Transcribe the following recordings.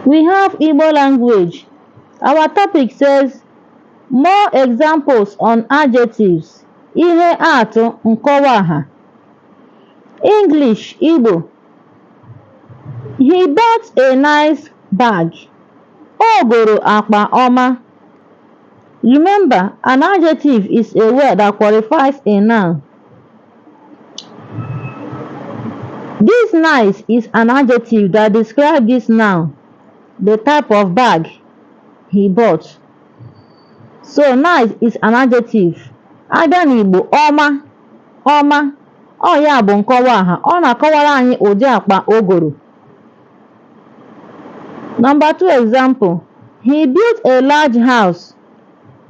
We have Igbo language. Our topic says more examples on adjectives. Ihe atụ nkọwa aha. English Igbo. He bought a nice bag. O goro akpa ọma. Remember, an adjective is a word that qualifies a noun. This nice is an adjective that describes this noun, the type of bag he bought. So nice is an adjective. A bịa n'Igbo ọma ọma ọ ya bụ nkọwa aha ọ na-akọwara anyị ụdị akpa o goro. Number two example, he built a large house.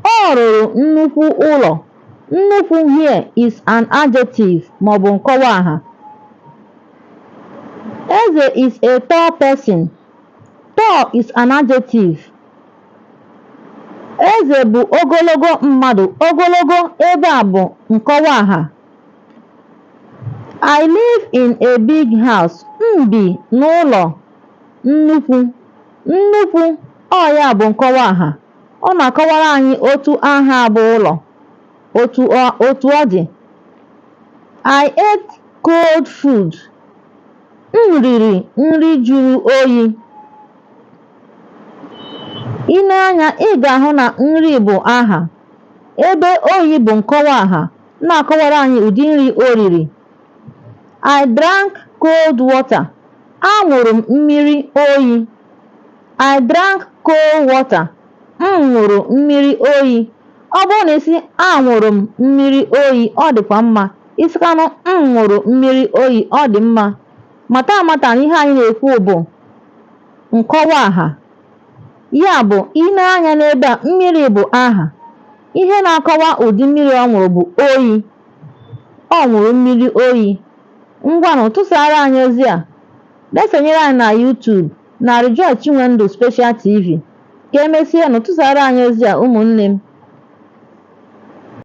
Ọ rụrụ nnukwu ụlọ. Nnukwu here is an adjective ma ọ bụ nkọwa aha. Eze is a tall person. Tall is an adjective. Eze bụ ogologo mmadụ. Ogologo ebe a bụ nkọwa aha. I live in a big house. M bi n'ụlọ nnukwu. Nnukwu ọ ya bụ nkọwa aha. ọ na-akọwara anyị otu aha a bụ ụlọ. Otu ọ otu ọ dị, I ate cold food. M riri nri jụrụ oyi. I nee anya, ị ga-ahụ na nri bụ aha, ebe oyi bụ nkọwa aha na-akọwara anyị ụdị nri o riri. I drank cold water. Aṅụrụ m mmiri oyi. I drank cold water. M ṅụrụ mmiri oyi. Ọ bụrụ na isi aṅụrụ m mmiri oyi, ọ dịkwa mma. Ị sịkwanụ m ṅụrụ mmiri oyi, ọ dị mma. Mata amata na ihe anyị na-ekwu bụ nkọwa aha. Ya bụ, i nee anya n'ebe a, mmiri bụ aha. Ihe na-akọwa ụdị mmiri ọ ṅụrụ bụ oyi. Ọ ṅụrụ mmiri oyi. Ngwanụ, tụsaara anyị ozi a. Na-esonyere anyị na YouTube. Mary Joy Chinwendu Special TV, Ka emesịa nụ tụsaara anyị ozi a ụmụnne m.